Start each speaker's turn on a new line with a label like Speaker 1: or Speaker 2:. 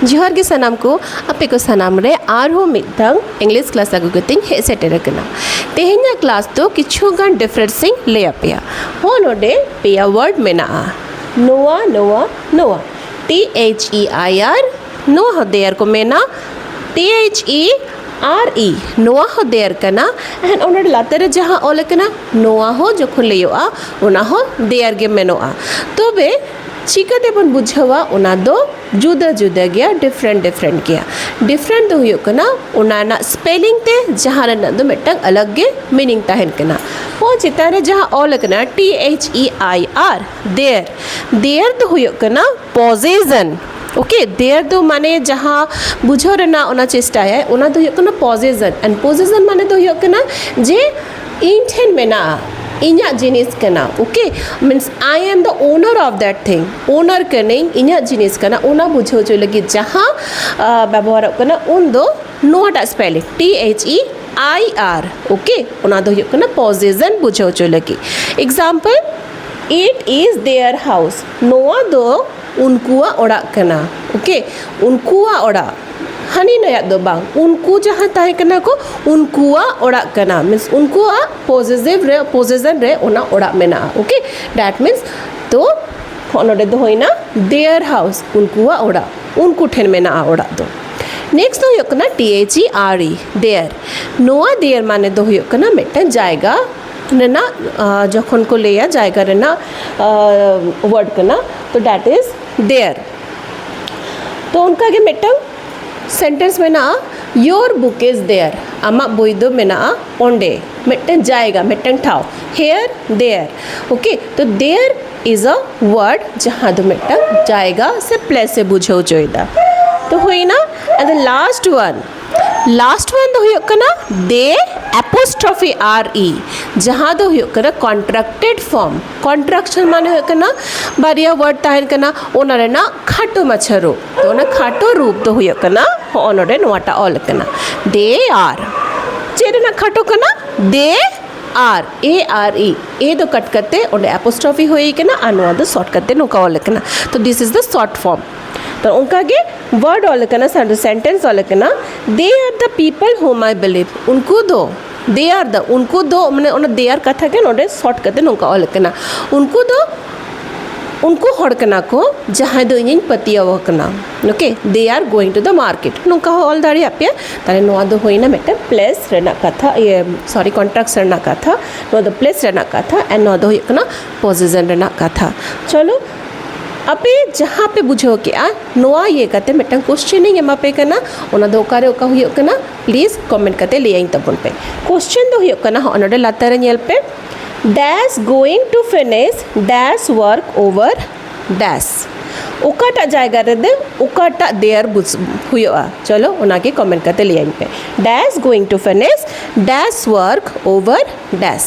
Speaker 1: ᱡᱚᱦᱟᱨ ᱜᱮ ᱥᱟᱱᱟᱢ ᱠᱚ ᱟᱯᱮ ᱠᱚ ᱥᱟᱱᱟᱢ ᱨᱮ ᱟᱨᱦᱚᱸ ᱢᱤᱫᱴᱟᱝ ᱤᱝᱞᱤᱥ ᱠᱞᱟᱥ ᱟᱹᱜᱩ ᱠᱟᱛᱮᱧ ᱦᱮᱡ ᱥᱮᱴᱮᱨ ᱟᱠᱟᱱᱟ ᱛᱮᱦᱮᱧᱟᱜ ᱠᱞᱟᱥ ᱫᱚ ᱠᱤᱪᱷᱩ ᱜᱟᱱ ᱰᱤᱯᱷᱟᱨᱮᱱᱥ ᱤᱧ ᱞᱟᱹᱭ ᱟᱯᱮᱭᱟ ᱦᱚᱸ ᱱᱚᱰᱮ ᱯᱮᱭᱟ ᱣᱟᱨᱰ ᱢᱮᱱᱟᱜᱼᱟ ᱱᱚᱣᱟ ᱱᱚᱣᱟ ᱱᱚᱣᱟ T H E I R ᱱᱚᱣᱟ ᱦᱚᱸ ᱫᱮᱭᱟᱨ ᱠᱚ ᱢᱮᱱᱟ T H E R E ᱱᱚᱣᱟ ᱦᱚᱸ ᱫᱮᱭᱟᱨ ᱠᱟᱱᱟ ᱮᱱᱠᱷᱟᱱ ᱚᱱᱟ ᱞᱟᱛᱟᱨ ᱨᱮ ᱡᱟᱦᱟᱸ ᱚᱞ ᱟᱠᱟᱱᱟ ᱱᱚᱣᱟ ᱦᱚᱸ ᱡᱚᱠᱷᱚᱱ ᱞᱟᱹᱭᱚᱜᱼᱟ ᱚᱱᱟ ᱦᱚᱸ ᱫᱮᱭᱟᱨ ᱜᱮ ᱢᱮᱱᱚᱜᱼᱟ ᱛᱚᱵᱮ ᱪᱤᱠᱟᱹ ᱛᱮᱵᱚᱱ ᱵᱩᱡᱷᱟᱹᱣᱟ ᱚᱱᱟ ᱫᱚ ᱡᱩᱫᱟᱹ ᱡᱩᱫᱟᱹ ᱜᱮᱭᱟ ᱰᱤᱯᱷᱨᱮᱱᱴ ᱰᱤᱯᱷᱨᱮᱱᱴ ᱜᱮᱭᱟ ᱰᱤᱯᱷᱨᱮᱱᱴ ᱫᱚ ᱦᱩᱭᱩᱜ ᱠᱟᱱᱟ ᱚᱱᱟ ᱨᱮᱱᱟᱜ ᱥᱯᱮᱞᱤᱝ ᱛᱮ ᱡᱟᱦᱟᱸ ᱨᱮᱱᱟᱜ ᱫᱚ ᱢᱤᱫᱴᱟᱝ ᱟᱞᱟᱜᱽ ᱜᱮ ᱢᱤᱱᱤᱝ ᱛᱟᱦᱮᱱ ᱠᱟᱱᱟ ᱯᱚ ᱪᱮᱛᱟᱱ ᱨᱮ ᱡᱟᱦᱟᱸ ᱚᱞ ᱟᱠᱟᱱᱟ T H E I R their their ᱫᱚ ᱦᱩᱭᱩᱜ ᱠᱟᱱᱟ ᱯᱚᱡᱮᱥᱚᱱ ᱳᱠᱮ ᱫᱮᱭᱟᱨ ᱫᱚ ᱢᱟᱱᱮ ᱡᱟᱦᱟᱸ ᱵᱩᱡᱷᱟᱹᱣ ᱨᱮᱱᱟᱜ ᱚᱱᱟ ᱪᱮᱥᱴᱟᱭᱟᱭ ᱚᱱᱟ ᱫᱚ ᱦᱩᱭᱩᱜ ᱠᱟᱱᱟ ᱯᱚᱡᱮᱥᱚᱱ ᱮᱱᱰ ᱯᱚᱡᱮᱥᱚᱱ ᱢᱟᱱᱮ ᱫᱚ ᱦᱩᱭᱩᱜ ᱠᱟᱱᱟ ᱡᱮ ᱤᱧ ᱴᱷᱮᱱ ᱢᱮᱱᱟᱜᱼᱟ ᱤᱧᱟᱹᱜ ᱡᱤᱱᱤᱥ ᱠᱟᱱᱟ okay means I am the owner of that thing owner ᱠᱟᱹᱱᱟᱹᱧ ᱤᱧᱟᱹᱜ ᱡᱤᱱᱤᱥ ᱠᱟᱱᱟ ᱚᱱᱟ ᱵᱩᱡᱷᱟᱹᱣ ᱦᱚᱪᱚᱭ ᱞᱟᱹᱜᱤᱫ ᱡᱟᱦᱟᱸ ᱵᱮᱵᱚᱦᱟᱨᱚᱜ ᱠᱟᱱᱟ ᱩᱱᱫᱚ ᱱᱚᱣᱟᱴᱟᱜ spelling T H E I R okay ᱚᱱᱟ ᱫᱚ ᱦᱩᱭᱩᱜ ᱠᱟᱱᱟ ᱯᱚᱡᱮᱥᱮᱱ ᱵᱩᱡᱷᱟᱹᱣ ᱦᱚᱪᱚᱭ ᱞᱟᱹᱜᱤᱫ example it is their house ᱱᱚᱣᱟ ᱫᱚ ᱩᱱᱠᱩᱣᱟᱜ ᱚᱲᱟᱜ ᱠᱟᱱᱟ ᱳᱠᱮ ᱩᱱᱠᱩᱣᱟᱜ ᱚᱲᱟᱜ ᱦᱟᱹᱱᱤ ᱱᱟᱹᱭᱟᱜ ᱫᱚ ᱵᱟᱝ ᱩᱱᱠᱩ ᱡᱟᱦᱟᱸᱭ ᱛᱟᱦᱮᱸ ᱠᱟᱱᱟ ᱠᱚ ᱩᱱᱠᱩᱣᱟᱜ ᱚᱲᱟᱜ ᱠᱟᱱᱟ ᱢᱤᱱᱥ ᱩᱱᱠᱩᱣᱟᱜ ᱯᱚᱡᱮᱥᱤᱵᱷ ᱨᱮ ᱯᱚᱡᱮᱥᱮᱱ ᱨᱮ ᱚᱱᱟ ᱚᱲᱟᱜ ᱢᱮᱱᱟᱜᱼᱟ ᱳᱠᱮ ᱫᱮᱴ ᱢᱤᱱᱥ ᱛᱚ ᱦᱚᱸᱜᱼᱚ ᱱᱚᱰᱮ ᱫᱚ ᱦᱩᱭᱱᱟ ᱫᱮᱭᱟᱨ ᱦᱟᱣᱩᱥ ᱩᱱᱠᱩᱣᱟᱜ ᱚᱲᱟᱜ ᱩᱱᱠᱩ ᱴᱷᱮᱱ ᱢᱮᱱᱟᱜᱼᱟ ᱚᱲᱟᱜ ᱫᱚ ᱱᱮᱠᱥᱴ ᱫᱚ ᱦᱩᱭᱩᱜ ᱠᱟᱱᱟ T H E R E there ᱱᱚᱣᱟ ᱫᱮᱭᱟᱨ ᱢᱟᱱᱮ ᱫᱚ ᱦᱩᱭᱩᱜ ᱠᱟᱱᱟ ᱢᱤᱫᱴᱟᱱ ᱡᱟᱭᱜᱟ ᱨᱮᱱᱟᱜ ᱡᱚᱠᱷᱚᱱ ᱠᱚ ᱞᱟᱹᱭᱟ ᱡᱟᱭᱜᱟ ᱨᱮᱱᱟᱜ ᱳᱣᱟᱨᱰ ᱠᱟᱱᱟ ᱛᱚ ᱰᱮᱴ ᱤᱡᱽ ᱫᱮᱭᱟᱨ ᱛᱚ ᱚᱱᱠᱟᱜᱮ ᱢᱤᱫᱴᱟᱝ ᱥᱮᱱᱴᱮᱱᱥ ᱢᱮᱱᱟᱜᱼᱟ ᱭᱳᱨ ᱵᱩᱠ ᱤᱡᱽ ᱫᱮᱭᱟᱨ ᱟᱢᱟᱜ ᱵᱳᱭ ᱫᱚ ᱢᱮᱱᱟᱜᱼᱟ ᱚᱸᱰᱮ ᱢᱤᱫᱴᱟᱝ ᱡᱟᱭᱜᱟ ᱢᱤᱫᱴᱟᱝ ᱴᱷᱟᱶ ᱦᱮᱭᱟᱨ ᱫᱮᱭᱟᱨ ᱳᱠᱮ ᱛᱚ ᱫᱮᱭᱟᱨ ᱤᱡᱽ ᱮ ᱳᱣᱟᱨᱰ ᱡᱟᱦᱟᱸ ᱫᱚ ᱢᱤᱫᱴᱟᱝ ᱡᱟᱭᱜᱟ ᱥᱮ ᱯᱞᱮᱥ ᱮ ᱵᱩᱡᱷᱟᱹᱣ ᱦᱚᱪᱚᱭᱮᱫᱟ ᱛᱚ ᱦᱩᱭᱱᱟ ᱟᱫᱚ ᱞᱟᱥᱴ ᱳᱣᱟᱱ ᱞᱟᱥᱴ ᱚᱣᱟᱱ ᱫᱚ ᱦᱩᱭᱩᱜ ᱠᱟᱱᱟ ᱫᱮ ᱮᱯᱳᱥᱴᱨᱚᱯᱷᱤ ᱟᱨ ᱤ ᱡᱟᱦᱟᱸ ᱫᱚ ᱦᱩᱭᱩᱜ ᱠᱟᱱᱟ ᱠᱚᱱᱴᱨᱟᱠᱴᱮᱰ ᱯᱷᱚᱨᱢ ᱠᱚᱱᱴᱨᱟᱠᱥᱚᱱ ᱢᱟᱱᱮ ᱦᱩᱭᱩᱜ ᱠᱟᱱᱟ ᱵᱟᱨᱭᱟ ᱣᱟᱨᱰ ᱛᱟᱦᱮᱱ ᱠᱟᱱᱟ ᱚᱱᱟ ᱨᱮᱱᱟᱜ ᱠᱷᱟᱴᱚ ᱢᱟᱪᱷᱟ ᱨᱩᱯ ᱛᱚ ᱚᱱᱟ ᱠᱷᱟᱴᱚ ᱨᱩᱯ ᱫᱚ ᱦᱩᱭᱩᱜ ᱠᱟᱱᱟ ᱦᱚᱸᱜᱼᱚ ᱱᱚᱰᱮ ᱱᱚᱣᱟᱴᱟᱜ ᱚᱞ ᱠᱟᱱᱟ ᱫᱮ ᱟᱨ ᱪᱮᱫ ᱨᱮᱱᱟᱜ ᱠᱷᱟᱴᱚ ᱠᱟᱱᱟ ᱫᱮ ᱟᱨ ᱮ ᱟᱨ ᱤ ᱮ ᱫᱚ ᱠᱟᱴ ᱠᱟᱛᱮ ᱚᱸᱰᱮ ᱮᱯᱳᱥᱴᱨᱚᱯᱷᱤ ᱦᱩᱭ ᱠᱟᱱᱟ ᱟᱨ ᱱᱚᱣᱟ ᱫᱚ ᱥᱚᱨᱴ ᱠᱟᱛᱮ ᱱᱚᱝᱠᱟ ᱚᱞ ᱠᱟᱱᱟ ᱛᱚ this is the short form ᱛᱚ ᱚᱱᱠᱟ ᱜᱮ ᱣᱟᱨᱰ ᱚᱞ ᱠᱟᱱᱟ ᱥᱮᱱᱴᱮᱱᱥ ᱚᱞ ᱠᱟᱱᱟ ᱫᱮ ᱟᱨ ᱫᱟ ᱯᱤᱯᱚᱞ ᱦᱳᱢ ᱟᱭ ᱵᱤᱞᱤᱵᱷ ᱩᱱᱠᱩ ᱫᱚ ᱫᱮ ᱟᱨ ᱫᱟ ᱩᱱᱠᱩ ᱫᱚ ᱢᱟᱱᱮ ᱚᱱᱟ ᱫᱮ ᱟᱨ ᱠᱟᱛᱷᱟ ᱜᱮ ᱱᱚᱰᱮ ᱥᱚᱨᱴ ᱠᱟᱛᱮ ᱱᱚᱝᱠᱟ ᱚᱞ ᱠᱟᱱᱟ ᱩᱱᱠᱩ ᱫᱚ ᱩᱱᱠᱩ ᱦᱚᱲ ᱠᱟᱱᱟ ᱠᱚ ᱡᱟᱦᱟᱸᱭ ᱫᱚ ᱤᱧᱤᱧ ᱯᱟᱹᱛᱭᱟᱹᱣ ᱟᱠᱟᱱᱟ okay they are going to the market ᱱᱚᱝᱠᱟ ᱦᱚᱸ ᱚᱞ ᱫᱟᱲᱮᱭᱟᱜ ᱯᱮ ᱛᱟᱦᱞᱮ ᱱᱚᱣᱟ ᱫᱚ ᱦᱩᱭᱱᱟ ᱢᱤᱫᱴᱟᱝ ᱯᱞᱮᱥ ᱨᱮᱱᱟᱜ ᱠᱟᱛᱷᱟ ᱤᱭᱟᱹ ᱥᱚᱨᱤ ᱠᱚᱱᱴᱨᱟᱠᱴ ᱨᱮᱱᱟᱜ ᱠᱟᱛᱷᱟ ᱱᱚᱣᱟ ᱫᱚ ᱯᱞᱮᱥ ᱨᱮᱱᱟᱜ ᱠᱟᱛᱷᱟ ᱟᱨ ᱱᱚᱣᱟ ᱫᱚ ᱦᱩᱭᱩᱜ ᱠᱟᱱᱟ ᱯᱚᱡᱮᱥᱮᱱ ᱨᱮᱱᱟᱜ ᱠᱟᱛᱷᱟ ᱪᱚᱞᱚ ᱟᱯᱮ ᱡᱟᱦᱟᱸ ᱯᱮ ᱵᱩᱡᱷᱟᱹᱣ ᱠᱮᱜᱼᱟ ᱱᱚᱣᱟ ᱤᱭᱟᱹ ᱠᱟᱛᱮ ᱢᱤᱫᱴᱟᱝ ᱠᱚᱥᱪᱮᱱ ᱤᱧ ᱮᱢᱟ ᱯᱮ ᱠᱟᱱᱟ ᱚᱱᱟ ᱫᱚ ᱚᱠᱟᱨᱮ ᱚᱠᱟ ᱦᱩᱭᱩᱜ ᱠᱟᱱᱟ ᱯᱞᱤᱡᱽ ᱠᱚᱢᱮᱱᱴ ᱠᱟᱛᱮ ᱞᱟᱹᱭᱟᱹᱧ ᱛᱟᱵᱚᱱ ᱯᱮ ᱠᱚᱥᱪᱮᱱ ᱫᱚ ᱦᱩᱭᱩᱜ ᱠᱟᱱᱟ ᱦᱚᱸᱜᱼᱚ ᱱᱚᱰᱮ ᱞᱟᱛᱟᱨ ᱨᱮ ᱧᱮᱞ ᱯᱮ they're going to finish their work over there ᱚᱠᱟᱴᱟᱜ ᱡᱟᱭᱜᱟ ᱨᱮᱫᱚ ᱚᱠᱟᱴᱟᱜ ᱫᱮᱭᱟᱨ ᱵᱩᱡᱽ ᱦᱩᱭᱩᱜᱼᱟ ᱪᱚᱞᱚ ᱚᱱᱟᱜᱮ ᱠᱚᱢᱮᱱᱴ ᱠᱟᱛᱮ ᱞᱟᱹᱭᱟᱹᱧ ᱯᱮ they're going to finish their work over ᱰᱮᱥ